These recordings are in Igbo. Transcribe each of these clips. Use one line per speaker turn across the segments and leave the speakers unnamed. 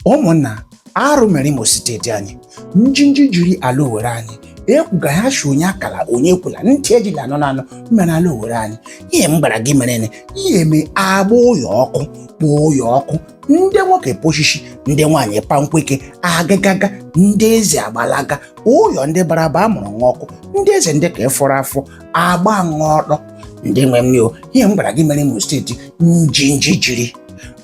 ụmụnna arụ mere imo steeti anyị njinji jiri ala owere anyị ekwuga ha shi onye akala onye ekwula ntị ejila anọ na anọ mere ala owere anyị ihe m gwara gị mere ne ihe eme agba ụyọ ọkụ kpụọ ụyọ ọkụ ndị nwoke poshishi ndị nwaanyị pankweke agagaga ndị eze agbalaga ụyọ ndị bara aba amụrụ nwa ọkụ ndị eze ndị ka ịfọrọ afọ agba nwa ọtọ ndị nwe m o ihe m gwara gị mere imo steeti njinji jiri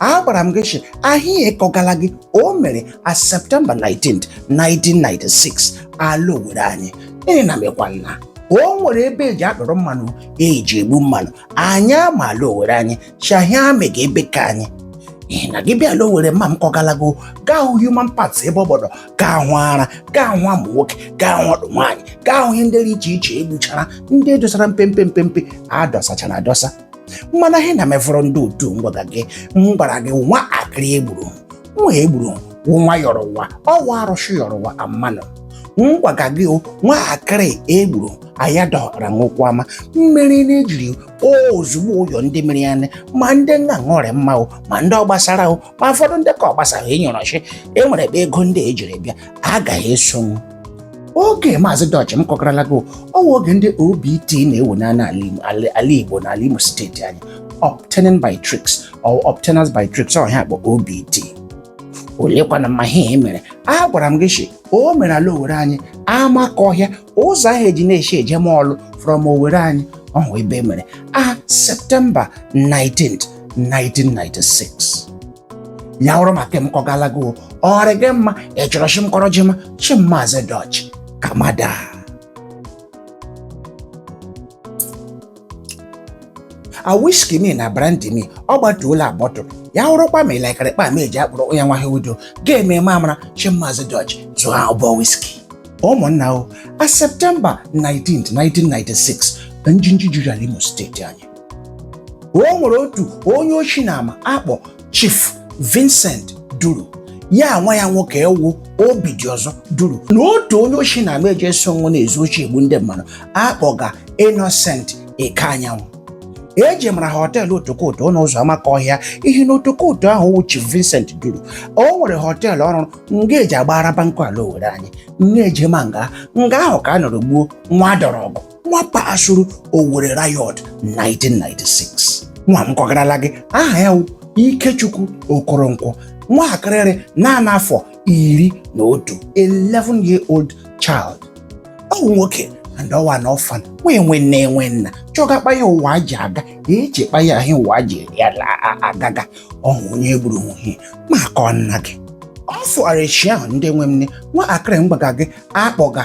a gwara m gị shi ahịa m kọgala gị o mere a septemba 19 1996 ala owere anyị ihi na mekwa nna o nwere ebe eji akpọrọ mmanụ eji egbu mmanụ anyị ama ala owere anyị shi ahịa mega ebe ka anyị na gị bịa ala owere ma m kọgala gị o gaa hụ human parts ebe ọ gbọdọ gaa hụ ara gaa hụ amụ nwoke gaa hụ ọtụ nwaanyị gaa hụ ihe ndị dị iche iche egbuchara ndị edosara mpempe mpempe adọsachara adọsa mana ihe na mefọrọ ndị otu m gwaga gị m gwara gị nwa akịrị egburu nwa egburu nwa yọrọ ụwa ọ wa arụsị yọrọ ụwa a mmanụ m gwaga gị nwa akịrị egburu ayadọra nwokwama mmeri na-ejiri ozugbo ụyọ ndị mere ya nne ma ndị nna ṅụrị mma o ma ndị ọ gbasara o ma ụfọdụ ndị ka ọ gbasara ịnyọrọ shi e nwere ebe ego ndị ejiri bịa agaghị esonwu oge maazị dọch m kọkarala gị ọ wa oge ndị obt na-ewu n'ala igbo na ala imo steeti anyị obtaining by tricks or obtainers by tricks ọhịa akpọ obt olekwana ma ihe e mere a gwara m gị shi o mere ala owere anyị amakọhịa ụzọ ahụ eji na-eshi ejema Ọlụ from Owerri anyị ọ wụ ebe o mere a Septemba 19 1996 ya wụrụ ma ka m kọgala gị o ọ rị gị mma ị chọrọ shi m kọrọ jema shi m maazị dọch kamada a wiski mi na brandi mi ọ gbatuola agbọtụ ya wụrụkwa ma ịlakarịkpa ma eji akpụrụ onye nwaghị udo ga-eme ma mara shi maazị dọch zụọ ụbọ wiski ụmụnna o a septemba 19 1996 njinji jiri ala imo steeti anyị o nwere otu onye oshi na ama akpọ Chief Vincent Duru ya nwa ya nwoke wụ Obidiọzọ Duru na otu onye oshi na ama eje so nwa na-ezu oshi egbu ndị mmadụ akpọga Innocent Ekeanyanwụ eji mara họteelụ otokoto nọ ụzọ amakọhịa ihe na otokoto ahụ wụ Chief Vincent duru o nwere họteelụ ọ rụrụ nga eji agbara bankụ ala Owerre anyị nga eje ma nga nga ahụ ka a nọrọ gbuo nwa dọrọ ọgụ nwa kpasuru Owerri Riot 1996 nwa m kọgarala gị aha ya Ikechukwu Okoronkwo nwaakịrị rị naanị afọ iri na otu 11 year old child ọ wụ nwoke and ọ wụ an orphan nwa enwe nne enwe nna chọga kpa ya ụwa ji aga eche kpa ya ahịa ụwa ji ya agaga ọhụ onye gburu nwuhie maka nna gị ọ fụara eshi ahụ ndị nwe m nne nwaakịrị m gbaga gị akpọga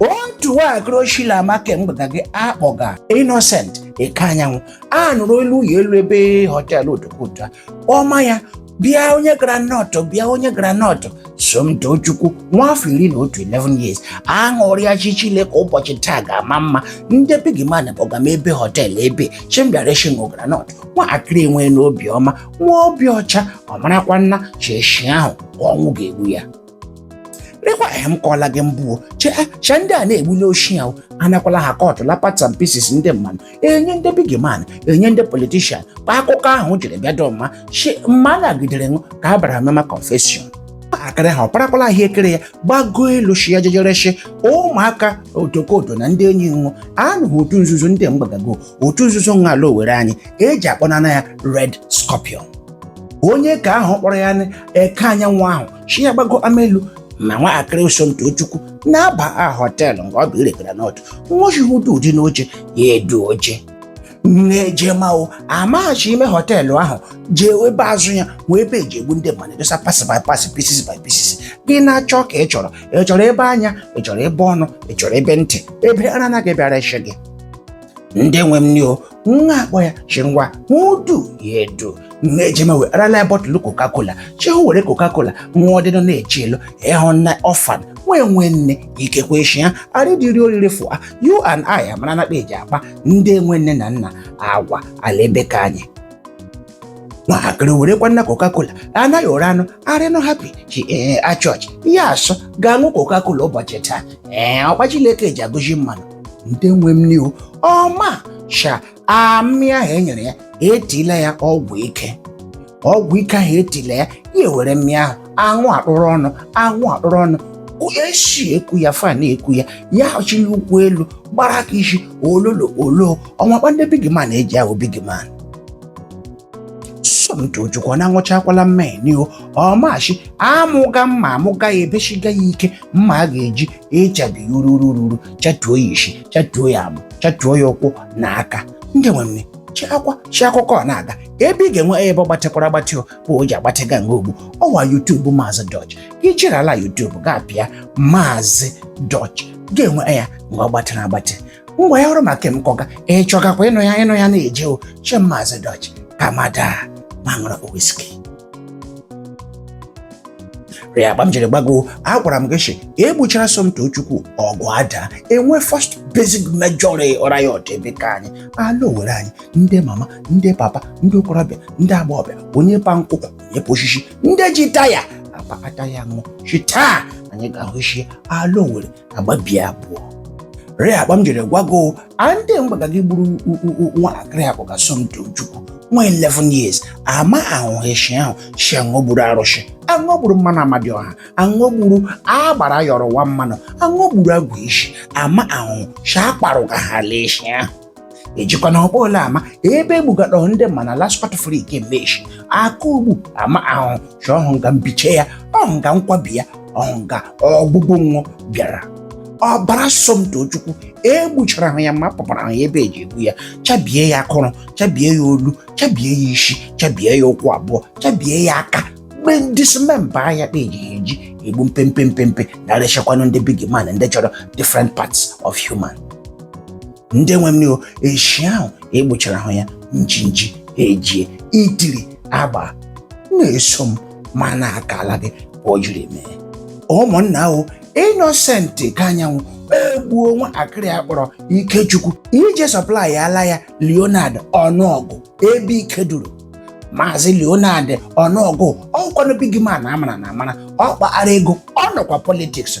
otu nwaakịrị ama ke m gbaga gị akpọga Innocent Ekeanyanwu a nụrụ elu ya elu ebe họteelụ Otokoto a ọma ya bịa onye groundnut bịa onye groundnut Somtochukwu nwa afọ iri na otu 11 years aṅụrịa shi Chileke ụbọchị taa ga-ama mma ndị big man kpọga m ebe họteelụ ebe shi m bịa reshi nwụ groundnut nwaakịrị enwena obiọma nwa obi ọcha ọ marakwana shi eshi ahụ ka ọnwụ ga-egbu ya rekwa ee m kọọla gị mbụ chee cha ndị a na-egbu n'oshi ya anakwala ha kọtụ la parts and pieces ndị mmanụ enye ndị big man enye ndị politician kpa akụkọ ahụ jiri bịa dọ mma shi mma nagidere nwụ ka a bara mema confession nwaakịrị a ọ parakwala ahụekere ya gbago elu shi ya jeje ereshi ụmụaka Otokoto na ndị enyi nwụ anụghị otu nzuzo ndị mgbagago otu nzuzo n'ala Owerri anyị eji akpọnana ya Red Scorpion onye ke ahụ kpọrọ ya Ekeanyanwu ahụ shi ya gbago ama elu ma nwaakịrị ahụ Somtochukwu na-aba họteelụ nke ọ bụ ire groundnut nwochihudu ụdị n'oche ya edu oche na-ejemao amaghị shi ime họteelụ ahụ jee ebe azụ ya wụ ebe eji egbu ndị mmadụ dosa parts by parts pieces by pieces gị na-achọ ka ị chọrọ ị chọrọ ebe anya ị chọrọ ebe ọnụ ị chọrọ ebe ntị ebe ara a na-abịa ereshi gị ndị nwe m ni o nwa akpọ ya shi ngwa edu ya edu nwa ejeme wee arala ya bottle Coca-Cola shi hụ were Coca-Cola nwa ọdịnọ na-eche elu ịhụ na orphan nwa enwe nne ikekwe eshi ya arịdịrị oriri for you and I amara na kpa eji akpa ndị enwe nne na nna agwa ala ebe ke anyị nwaakịrị werekwana Coca-Cola anaghị ore anụ arịnụ happy shi ee achọọchị ya asọ ga-aṅụ Coca-Cola ụbọchị taa ee ọ kpa Chileke ji agọzi mmanụ ndị nwe m ni o ọ ma shi mmịa ahụ e nyere ya etila ya ọgwụ ike ọgwụ ike ahụ etila ya ya ewere mmịa ahụ aṅụ akpụrụ ọnụ aṅụ akpụrụ ọnụ AC eku ya fan eku ya ya chiri ụkwụ elu gbara aka isi ololo olo ọ wụ kpa ndị big man eji awụ big man Somtochukwu na aṅụchakwala mmeni o ọ ma shi amụga mma amụga ya ebeshiga ya ike mma a ga-eji echabi ya ururu ururu chatuo ya isi chatuo ya amụ chatuo ya ụkwụ na aka ndị nwe m shi akụkọ a na-aga ebe ị ga-enwe ebe ọ gbatịkwara agbatị bụ o ji agbatịga nga ọ bụ ọwa youtube maazị dọch i jere ala youtube ga-apịa maazị dọch ga-enwe ya mgbe ọ gbatịrị agbatị ngwa ya wụrụ ma nke m kọga ị chọgakwa ịnụ ya na-eje o che maazị dọch kamada ma ṅụrụ wiski rịa akpa m jiri gbago agwara m gị shi egbuchara Somtochukwu ọgụ adaa enwe first basic major riot ebe ka anyị ala owere anyị ndị mama ndị papa ndị okorobịa ndị agbọghọbịa onye pa nkwụ onye pa oshishi ndị ji taya akpa taya ṅụ shi taa anyị ga-ahụ ishi ala owere agbabie abụọ rịa akpa m jiri gwago ndị mgbaga gị gburu nwatakịrị a kpọga Somtochukwu nwa 11 years ama ahụ eshi ahụ shi aṅụ gburu arụshi aṅụ gburu mmanụ amadioha aṅụ gburu agbara yọrọ nwa mmanụ aṅụ gburu agwụ ishi ama ahụ shi akparụ ka ha lee eshi ahụ ejikwa na ọkpọ ole ama ebe egbugadọ ndị ma na laspọt frik meshi aka ugbu ama ahụ shi ọhụ nga mbiche ya ọhụ nga nkwabi ya ọhụ nga ọgbụgbụ nwụ bịara ọbara Somtochukwu egbuchara ahụ ya ma pụpara ahụ ya ebe eji egbu ya chabie ya akụrụ chabie ya olu chabie ya isi chabie ya ụkwụ abụọ chabie ya aka mee dismember ya kpa eji egbu mpempe mpempe na-ereshikwanụ ndị big man ndị chọrọ different parts of human ndị nwe m ni o eshi ahụ egbuchara ahụ ya njinji ejie itiri agbaa na-eso m ma na-akala gị kpa o jiri mee ụmụnna ahụ innocent ekeanyanwụ egbuo nwatakịrị a kpọrọ ikechukwu ije supply ala ya leonard unaogu ebe ike duru maazị leonard unaogu ọ wụkwanụ big man a mara amara ọ kpara ego ọ nọkwa politiks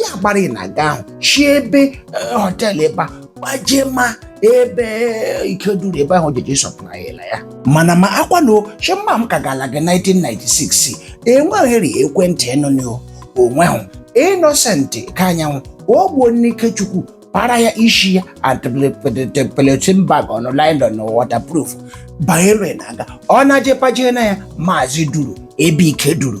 ya gbara ị na-aga ahụ shi ebe eh, họteelụ ebe a pajema ebe ike duru ebe ahụ jeje supply ala ya mana makwanụ shi mma m kagala gị 1996 enweghịrị ekwentị ịnụnụ onweghị innocent ekeanyanwụ egbuo nụ ikechukwu para ya ishi ya tie polythene bag ọnụ nylon waterproof banyere na-aga ọ na-aje pajenaa ya maazị duru ebe ike duru